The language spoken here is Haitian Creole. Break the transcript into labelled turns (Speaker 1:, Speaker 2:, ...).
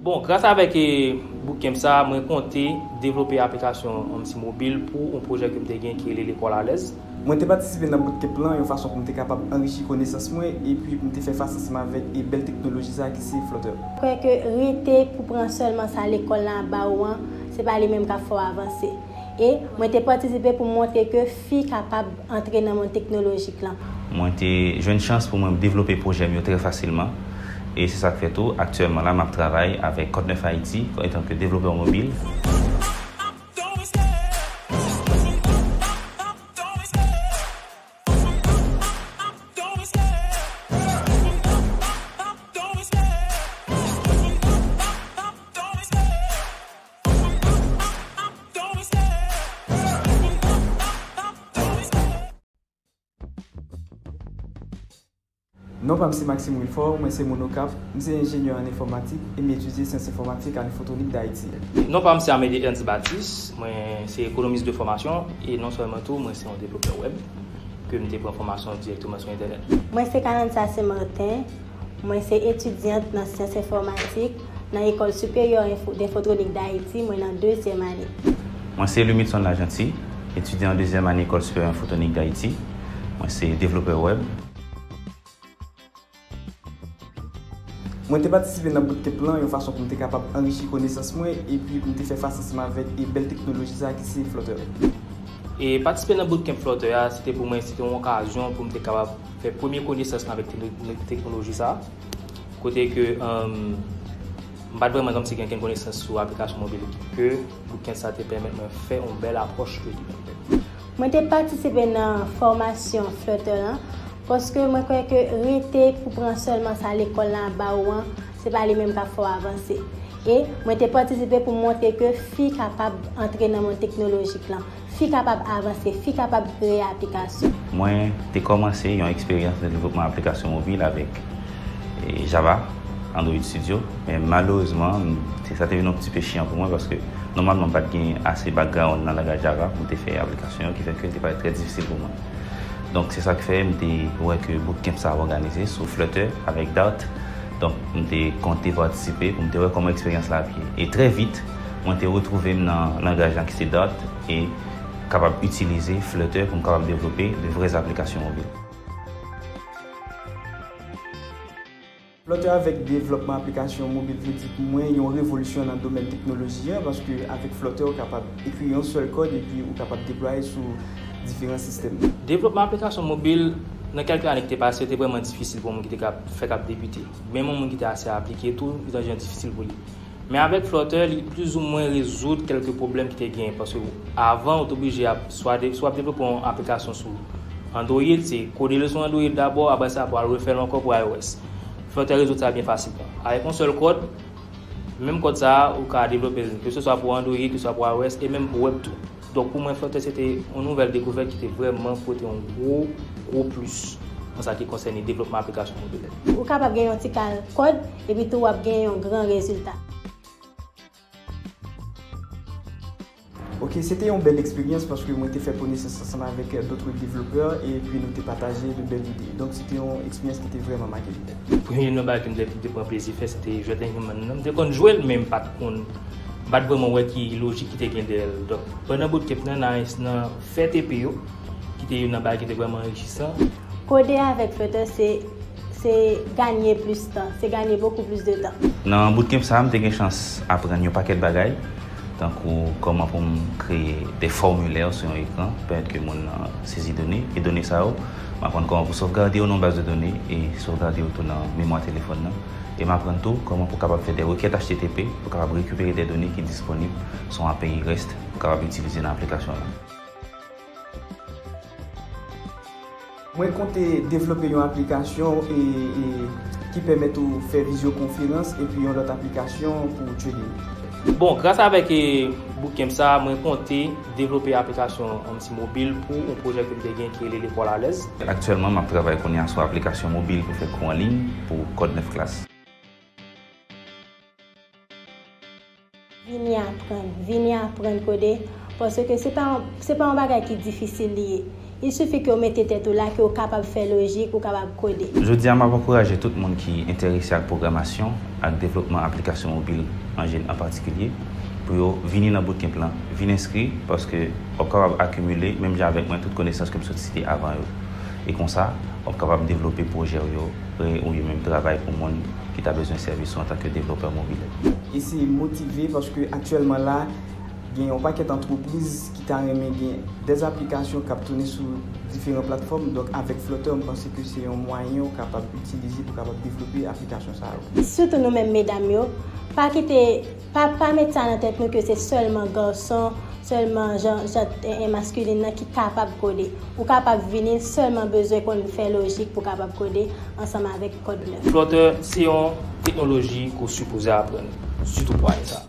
Speaker 1: Bon, gras avèk bootcamp sa a, mwen konte devlope aplikasyon Omsi Mobile pou yon pwojè ke m te gen ki rele Lekòl Alèz. Mwen te patisipe nan
Speaker 2: bootcamp lan yon fason pou m te kapab anrichi konesans mwen epi pou m te fè fas ansanm avèk bèl teknoloji sa a ki se Flutter. Kwè ke rete
Speaker 3: pou pran sèlman sa lekòl lan ap ba ou an, se pa li menm k ap fè w avanse. E, mwen te patisipe pou m montre ke Fi kapab antre nan mond teknolojik lan. Mwen te jwenn
Speaker 4: chans pou mwen devlope pwojè m yo trè fasilman e se sa k fè tou aktyèlman la m ap travay avèk Kòt Nèf Ayiti antanke devlopè mobil.
Speaker 2: Non pa m se Maxime Wilfort, mwen se moun Okap, m se enjenyè an enfòmatik e m etidye syans enfòmatik a Infotronic d'Haiti. Non pa m se Amédée
Speaker 1: Ernst Baptiste, mwen se ekonomis de fòmasyon e non sèlman tou mwen se yon devlopè wèb ke m te pran fòmasyon dirèkteman sou entènèt. Mwen se Carantha
Speaker 3: St-Martin, mwen se etidyant nan syans enfòmatik. nan Ecole Supérieure Info d'Infotronique d'Haïti, mwen nan dezyèm ane. Mwen se Lumidson
Speaker 4: Lajeanty, etidyan an dezyèm ane Ecole Supérieure Infotronique d'Haïti, mwen se devlopè wèb.
Speaker 2: Mwen te patisipe nan bootcamp lan yon fason pou m te kapab anrichi konesans mwen epi pou m te fè fas ansanm avèk e bèl teknoloji sa ki se Flutter. E
Speaker 1: patisipe nan bootcamp Flutter a, se te pou mwen se te yon okazyon pou m te kapab fè premye konesans mwen avèk teknoloji sa. kote ke m pat vreman kòmsi gen kenn konesans sou aplikasyon mobil ke bootcamp sa te pèmèt mwen fè yon bèl apwòch de li. Mwen te
Speaker 3: patisipe nan fòmasyon Flutter lan paske mwen kwè ke rete pou pran sèlman sa lekòl lan ap ba ou an, se pa li menm k ap fè w avanse. E mwen te patisipe pou montre ke fi kapab antre nan mond teknolojik lan. Fi kapab avanse, fi kapab kreye aplikasyon. Mwen te
Speaker 4: kòmanse yon eksperyans nan devlopman aplikasyon mobil avèk Java, Android Studio, men malerezman, sa te vin yon ti pe chiyan pou mwen paske nòmalman m pa t gen ase background nan langaj Java pou m te fè aplikasyon yo ki fè ke l te parèt trè difisil pou mwen. Donk se sa k fè m te wè ke bootcamp sa ap òganize sou Flutter avèk Dart, donk m te konte patisipe pou m te wè kòman eksperyans la ap ye. E trè vit. Mwen te retwouve m nan langaj lan ki se Dart e kapab itilize Flutter pou m kapab devlope de vrè aplikasyon mobil.
Speaker 2: Flutter avèk devlòpman aplikasyon mobil vle di pou mwen yon revolisyon nan domèn teknoloji an paske avèk Flutter ou kapab ekri yon sèl kòd epi ou kapab deplwaye sou diferan sistèm. Devlòpman aplikasyon
Speaker 1: mobil nan kèlke ane ki te pase yo te vrèman difisil pou yon moun ki te fèk ap debite. Menm yon moun ki te ase aplike tou li te yon jan difisil pou li. Men avèk Flutter li plis ou mwen rezoud kèlke pwoblèm ki te genyen paske avan ou te oblije ap swa de, swa ap devlope yon aplikasyon sou Android, se kode l sou Android dabò, apre sa pou al refè l ankò pou iOS. Flutter rezoud sa byen fasilman. Avèk yon sèl kòd, menm kòd sa a ou ka devlope l keseswa pou Android, keseswa pou iOS e menm pou web tou. Donk pou mwen Frontex se te yon nouvèl dekouvèt ki te vrèman pote yon gwo, gwo plis an sa ki konsène devlopman aplikasyon mobilè. Ou kapab gen yon ti
Speaker 3: kal kòd epi tou w ap gen yon gran rezilta.
Speaker 2: Ok, se te yon bèl eksperyans paske mwen te fè konesans ansanm avèk d'autres développeurs e pi nou te pataje de bèl ide. Donk se te yon eksperyans ki te vrèman make m. Premye nan bagay
Speaker 1: ke m te pran plezi fè se te jwèt Inhuman nan. M te konn jwe l men m pa t konn. M pa t vrèman wè ki lojik ki te gen dèyè l. Donk, pandan bout kep nan, Naens nan fè tepe yo, ki te youn nan bagay ki te vrèman anrichisan. Kode avèk
Speaker 3: Flutter se se ganye plis tan, se ganye bokou plis de tan. Nan bout kep sa a, m te
Speaker 4: gen chans aprann yon pakèt bagay, tankou kòman pou m kreye de fòmilè sou yon ekran, pèmèt ke moun nan sezi done, e done sa yo, m aprann kòman pou sovgade yo nan yon baz de done, e sovgade yo tou nan memwa telefòn nan. e m aprann tou kòman pou kapab fè de rekèt http pou kapab rekipere de done ki disponib sou yon API rest pou kapab itilize nan aplikasyon w la.
Speaker 2: Mwen konte devlope yon aplikasyon ki pèmèt ou fè vizyokonferans epi yon lòt aplikasyon pou trading. Bon, gras
Speaker 1: avèk bootcamp sa a, mwen konte. Devlope aplikasyon yon ti mobil pou yon pwojè ke m te gen ki rele Lekòl Alèz. Aktyèlman, m ap travay
Speaker 4: kounye a sou aplikasyon mobil pou fè kou an liy pou Kòd 9 Klas.
Speaker 3: Vini aprann, vini aprann kode, paske se pa yon bagay ki difisil li ye. Il suffit ke w mete tèt ou la, ke w kapab fè lojik, ou kapab kode. Jodi a, m ap ankouraje
Speaker 4: tout moun ki enterese ak pwogramasyon ak devlopman aplikasyon mobil anjen an patikilye pou yo vini nan bootcamp lan. Vin enskri, paske w ap kapab akimile, menm jan avèk mwen, tout konesans ke m sot site avan yo. E konsa, w ap kapab devlope pwojè w yo oubyen menm travay pou moun ki ta bezwen sèvis ou antanke devlopè mobil. E se motive
Speaker 2: paske aktyèlman la, Gen yon pakèt antrepriz ki ta renmen gen dè aplikasyon k ap tounen sou diferan platfòm, donk avèk Flutter m panse ke se yon mwayen ou kapab itilize pou kapab devlope aplikasyon sa yo. Sitou nou menm
Speaker 3: medam yo, pa kite, pa pa met sa nan tèt nou ke se sèlman garçon, sèlman jan jan masculin nan ki kapab kode. Ou kapab vini sèlman bezwen konn fè lojik pou kapab kode ansanm avèk Code9. Flutter
Speaker 1: se yon teknoloji ke w
Speaker 3: sipoze
Speaker 1: aprann,
Speaker 3: sitou pou
Speaker 1: ane sa.